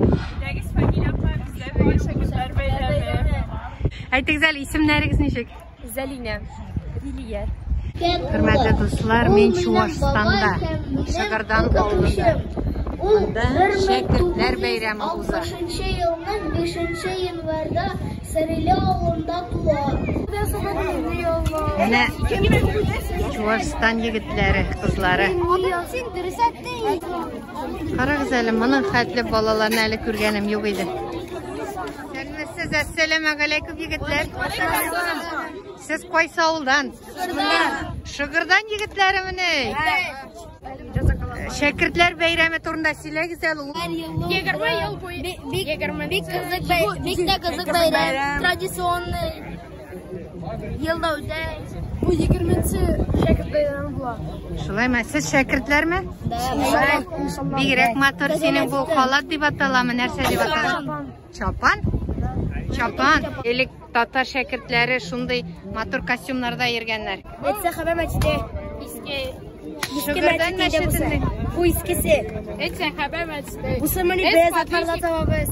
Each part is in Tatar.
Исемнәрегез, фамилиягезне безгә бирегез. Шәкертләр бәйрәме. Әйтегез әле, исемнәрегез ничек? Зәлинә. Лилия. Хөрмәтле дуслар, мин Чувашстанда, Шагардан авылында. Монда шәкертләр бәйрәме уза. 1960 елның 5 январьда Сәриле авылында туа. Менә Чувашстан егетләре, кызлары. Карагыз әле, моның хәтле балаларны әле күргәнем юк иде. Сәлмәсез, әссәләмә галәйкүм, егетләр. Сез кайсы авылдан? Шыгырдан егетләре мене. Шәкертләр бәйрәме турында сөйләгез әле. 20 ел буе. Бик кызык бәйрәм. Бик тә кызык бәйрәм. Традиционный Елда үтә. Бу 20-нче шәкерт бәйрәме була. Шулаймы? Сез шәкертләрме? Бигрәк матур синең бу халат дип аталамы, нәрсә дип аталама? Чапан. Чапан. Элек татар шәкертләре шундый матур костюмнарда йөргәннәр. Әйтсә хәбәр мәчете. Иске Шөгердән мәчетенең. Бу искесе. Әйтсә хәбәр мәчете. Бу сымыны без атарда табабыз.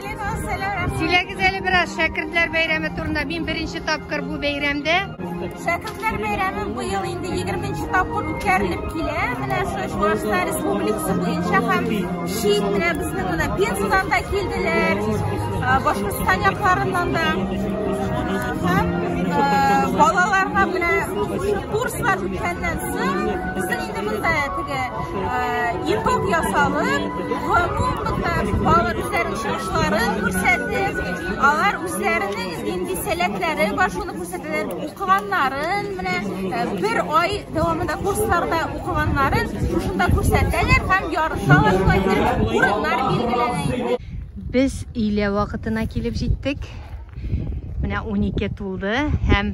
Сөйләгез әле бераз шәкертләр бәйрәме турында. Мин беренче тапкыр бу бәйрәмдә. Шәкертләр бәйрәме быел инде 20-нче тапкыр үткәрелеп килә. Менә шушы Чувашстан республикасы буенча һәм чит менә безнең менә Пензадан да килделәр. Башкортстан якларыннан да. Һәм балаларга менә курслар үткәннән соң Итог ясалып, гомумән бала үзләренең чыгышларын күрсәтеп, алар үзләренең инде сәләтләре бар, шуны күрсәтәләр, укыганнарын, менә бер ай дәвамында курсларда укыганнарын шушында күрсәтәләр һәм ярышалар, шулай итеп урыннар билгеләнә. Без өйлә вакытына килеп җиттек. Менә 12 тулды һәм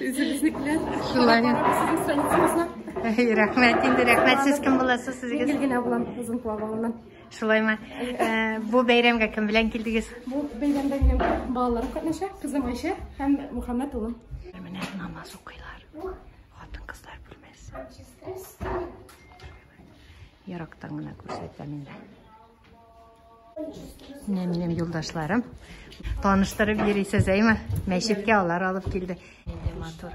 Үзебезнекеләр. Шулай. Әй, рәхмәт инде, рәхмәт. Сез кем буласыз сезгә? Гел генә булам озын плавалынан. Шулаймы? Э, бу бәйрәмгә кем белән килдегез? Бу бәйрәмдә минем балаларым катнаша, кызым Айшә һәм Мөхәммәт улым. Менә намаз укыйлар. Хатын кызлар бүлмәсе. Ярактан гына күрсәтәм инде. Менә минем юлдашларым. Таныштырып йөрисез, әйме? Мәчеткә алар алып килде. Менә матур.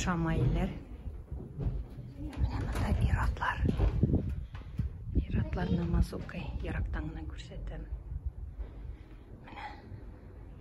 Шамайлар. Менә монда иратлар. Иратлар намаз укый. Ярактан гына күрсәтәм.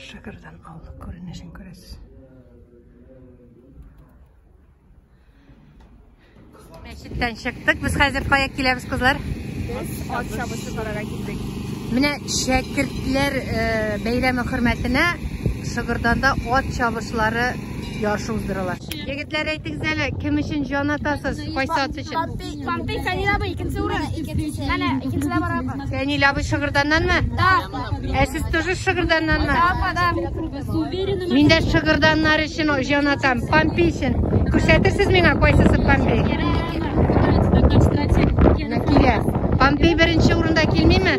Шыгырдан авылы күренешен күрәсез. Мәчеттән чыктык. Без хәзер кая киләбез, кызлар? Без ат чабышы карарга килдек. Менә шәкертләр э, бәйрәме хөрмәтенә Шыгырданда ат чабышлары ярышы уздырыла. Егетләр әйтегез әле, кем өчен җан атасыз? Кайсы ат өчен? Пампик, Фәнил абый, икенче урын. Менә, икенчедә барабыз. Фәнил абый Шыгырданнанмы? Да. Ә сез тоже Шыгырданнанмы? Да, апа, да. Мин дә Шыгырданнар өчен җан атам. Пампи өчен. Күрсәтерсез миңа кайсысы Пампи? Менә килә. Пампи беренче урында килмиме?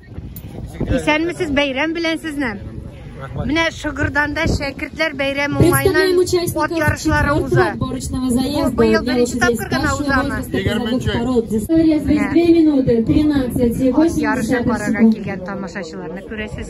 Исәнмесез, бәйрәм белән сезне. Менә Шыгырданда шәкертләр бәйрәм уңайыннан от ярышлары уза. Бу быел беренче тапкыр гына узамы? 20-нче. От ярышы карарга килгән тамашачыларны күрәсез.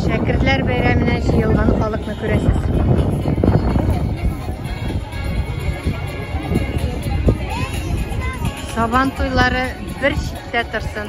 Шәкертләр бәйрәменә җыелган халыкны күрәсез. Сабан туйлары бер читтә торсын.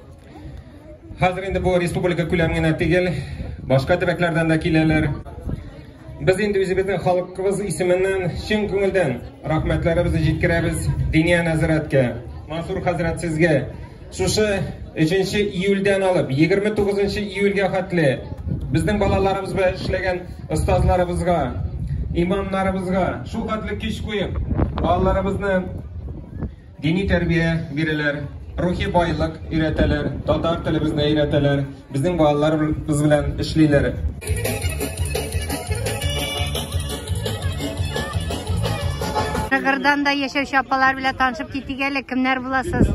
Хәзер инде бу республика күләм генә түгел, башка төбәкләрдән дә киләләр. Без инде үзебезнең халыкыбыз исеменнән чын күңелдән рәхмәтләребезне җиткерәбез Диния нәзарәткә, Мансур хәзрәт сезгә. Шушы 3 июльдән алып 29 июльгә хәтле безнең балаларыбыз белән эшләгән остазларыбызга, имамнарыбызга шул хәтле көч куеп, балаларыбызны Дини тәрбия бирәләр, рухи байлык өйрәтәләр, татар телебезне өйрәтәләр, безнең балаларыбыз белән эшлиләр. Шыгырданда яшәүче апалар белән танышып китик әле, кемнәр буласыз?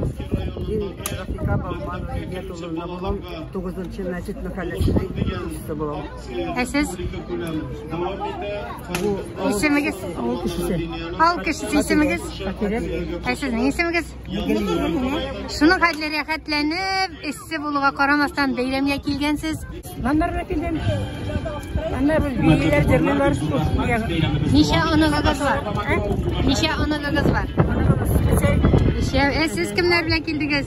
Мин Рафика Балманова Илья Туловна булам, 9 мәчет мәхәлләсенең икенчесе булам. Ә сез? Исемегез? Авыл кешесе. Авыл кешесе исемегез? Ә сезнең исемегез? Шуның хәтле рәхәтләнеп, эссе булуга карамастан бәйрәмгә килгәнсез? Маннарга килгән. Әмма без бәйләр җырлыйлар. Ничә оныгыгыз бар? Ничә оныгыгыз бар? Ничә? Ә сез кемнәр белән килдегез?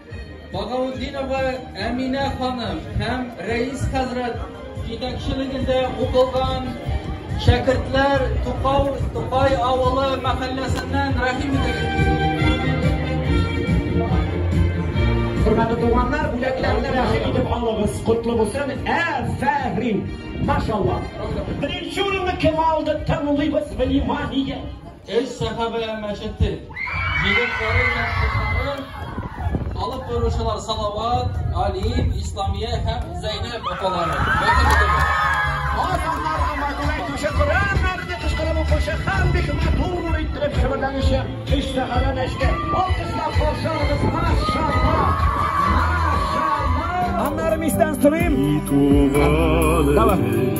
Багаутдинова Әминә ханым һәм Рәис хәзрәт җитәкчелегендә укылган шәкертләр Тукау Тукай авылы мәхәлләсеннән рәхим Хөрмәтле туганнар, бүләкләрне рәхим итеп алыгыз. Котлы булсын. Афәрин. Машалла. Беренче урынны кем алды? Тыңлыйбыз внимание. Өч сәхабә мәчете җегетләре һәм кызлары, алып баручылар Салават, Алим, Исламия һәм Зәйнәб апалары. Аннары мичтән сорыйм. Давай.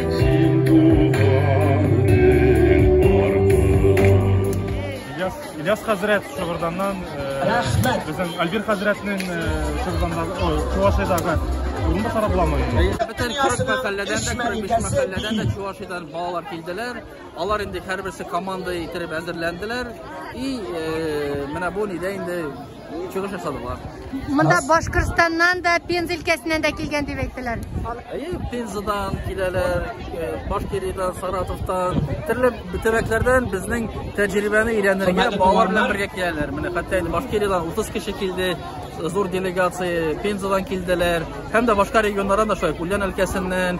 Син туганың Ильяс, Ильяс хәзрәт Шыгырданнан Рәхмәт. Безнең Альбир хәзрәтнең Шыгырданнан, ой, Чувашиядәге урынбасары буламы? Бөтен 40 мәхәлләдән дә, 45 мәхәлләдән дә Чувашиядән балалар килделәр. Алар инде һәрберсе команда итеп әзерләнделәр и э, менә бу нидә инде чыгыш ясадылар. Монда Башкортстаннан да, Пенза өлкәсеннән дә килгән дип әйттеләр. Әйе, Пензадан киләләр, э, Башкиридан, Саратовтан, төрле төбәкләрдән безнең тәҗрибәне өйрәнергә балалар белән бергә киләләр. Менә хәтта инде Башкиридан 30 кеше килде, зур делегация Пензадан килделәр, һәм дә башка регионнардан да шулай, Ульян өлкәсеннән,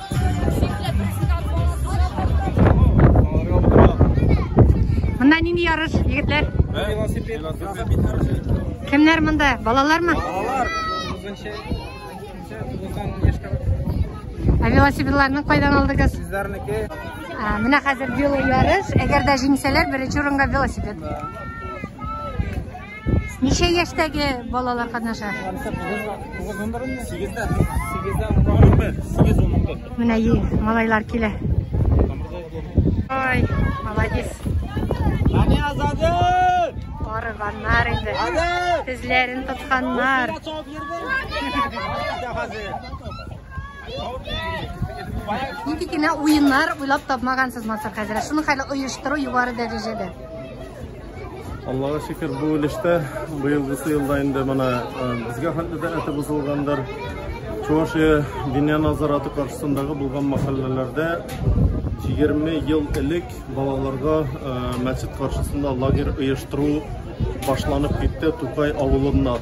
Монда нинди ярыш, егетләр? Кемнәр монда? Балалармы? Балалар. Ә велосипедларны кайдан алдыгыз? Сезләрнеке. Менә хәзер вело ярыш. Әгәр дә җиңсәләр, беренче урынга велосипед. Ничә яшьтәге балалар катнаша? Сигездә. Сигездә. Сигез унбер. Менә и, малайлар килә. Ой, молодец. Ани азады! Арыганнар инде. Тезләрен тотканнар. Нинди генә уеннар уйлап тапмагансыз, Мансур хәзрәт. Шуны хәле оештыру югары дәрәҗәдә. Аллага шөкер, бу өлештә быелгысы елда инде менә безгә хәтле дә әте бозылгандыр. Чувашия диния назараты каршысындагы булган мәхәлләләрдә 20 ел элек балаларга мәчет каршысында лагерь оештыру башланып китте Тукай авылында.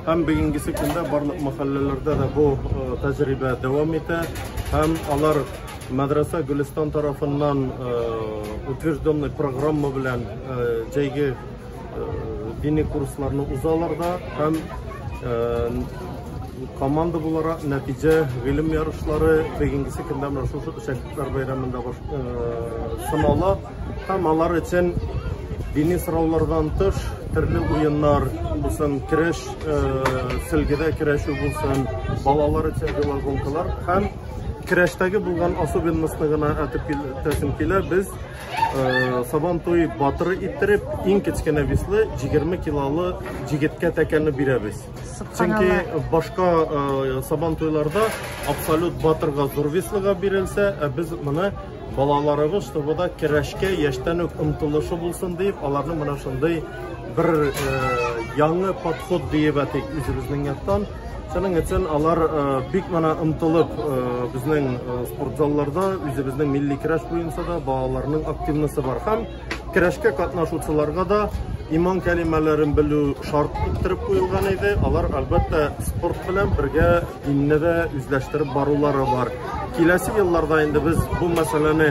Һәм бүгенгесе көндә барлык мәхәлләләрдә дә бу тәҗрибә дәвам итә һәм алар Мәдрәсә Гөлестан тарафыннан утвержденный программа белән җәйге дини курсларны узалар да һәм команда буларак нәтиҗә гыйлем ярышлары бүгенгесе көндә менә шушы шәкертләр бәйрәмендә сынала һәм алар өчен дини сораулардан тыш төрле уеннар булсын көрәш сөлгедә көрәшү булсын балалар өчен велогонкалар һәм Керәштәге булган особенностны гына әтеп килтәсем килә. Без э, сабан туй батыры иттереп, иң кечкенә веслы 20 килолы җигеткә тәкәне бирәбез. Чөнки башка э, сабан туйларда абсолют батырга зур веслыга бирелсә, ә без моны балаларыбыз, чтобы да керәшкә яшьтән үк омтылышы булсын дип, аларны менә шундый бер э, яңы подход диеп әйтик үзебезнең яктан. Шуның өчен алар э, бик мана ымтылып э, безнең э, спортзалларда үзебезнең милли көрәш буенча да балаларның активносы бар һәм көрәшкә катнашучыларга да иман кәлимәләрен белү шарт иттереп куелган иде. Алар әлбәттә спорт белән бергә динне дә үзләштереп барулары бар. Киләсе елларда инде без бу мәсьәләне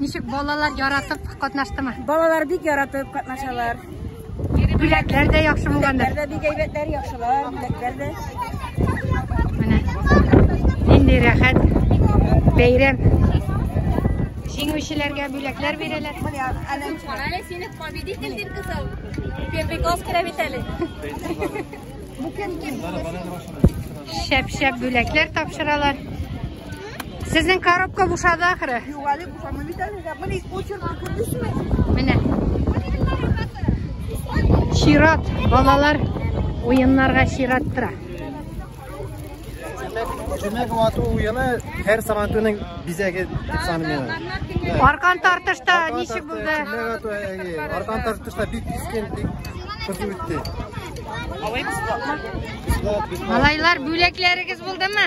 Ничек балалар яратып катнаштымы? Балалар бик яратып катнашалар. Бүләкләр дә яхшы булгандыр. Бүләкләр дә бик әйбәтләр, яхшылар, бүләкләр дә. Менә. Нинди рәхәт. Бәйрәм. Җиңүчеләргә бүләкләр бирәләр. Аля сине победитель дип кызыл. Перпикос керә бит әле. Шәп-шәп бүләкләр тапшыралар. Сезнең коробка бушады ахыры. Юк, әле бушамый бит әле. Менә почеркны күрдеңме? Менә. Чират, балалар уеннарга чират тора. Җүмәк вату уены һәр сабантуйның бизәге дип саныйм. Аркан тартышта ничек булды? Аркан тартышта бик кискен, бик кызу үтте. Малайлар, бүләкләрегез булдымы?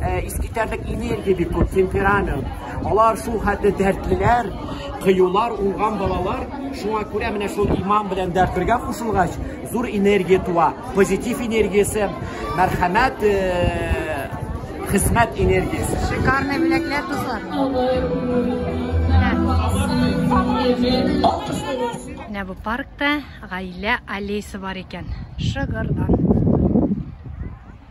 Э, искитәрлек энергия бик күп, темперамент. Алар шул хәтле дәртлеләр, кыюлар, уңган балалар. Шуңа күрә менә шул иман белән дәрт бергә кушылгач, зур энергия туа. Позитив энергиясе, мәрхәмәт, э, хезмәт энергиясе. Шикарный бүләкләр, дуслар. Менә бу паркта гаилә аллеясы бар икән. Шыгырдан.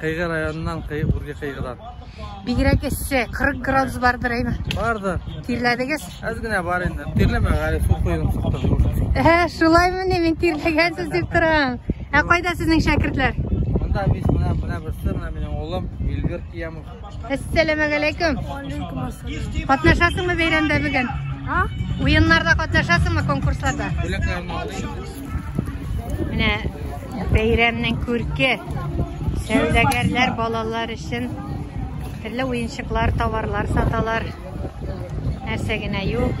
Кыйгы районыннан кый, үрге кыйгыдан. Бигрәк эссе, 40 градус бардыр әйме? Бардыр. Тирләдегез? Әз генә бар инде. Тирләмә, әле су куелып чыкты. Ә, шулаймы ни, мин тирләгәнсез дип торам. Ә кайда сезнең шәкертләр? Монда без менә менә берсе, менә минем улым Илгыр Киямов. Әссәләмәгәләйкүм. Катнашасыңмы бәйрәмдә бүген? А? Уеннарда катнашасыңмы конкурсларда? Менә бәйрәмнең күрке сәүдәгәрләр балалар өчен төрле уенчыклар, товарлар саталар. Нәрсә генә юк.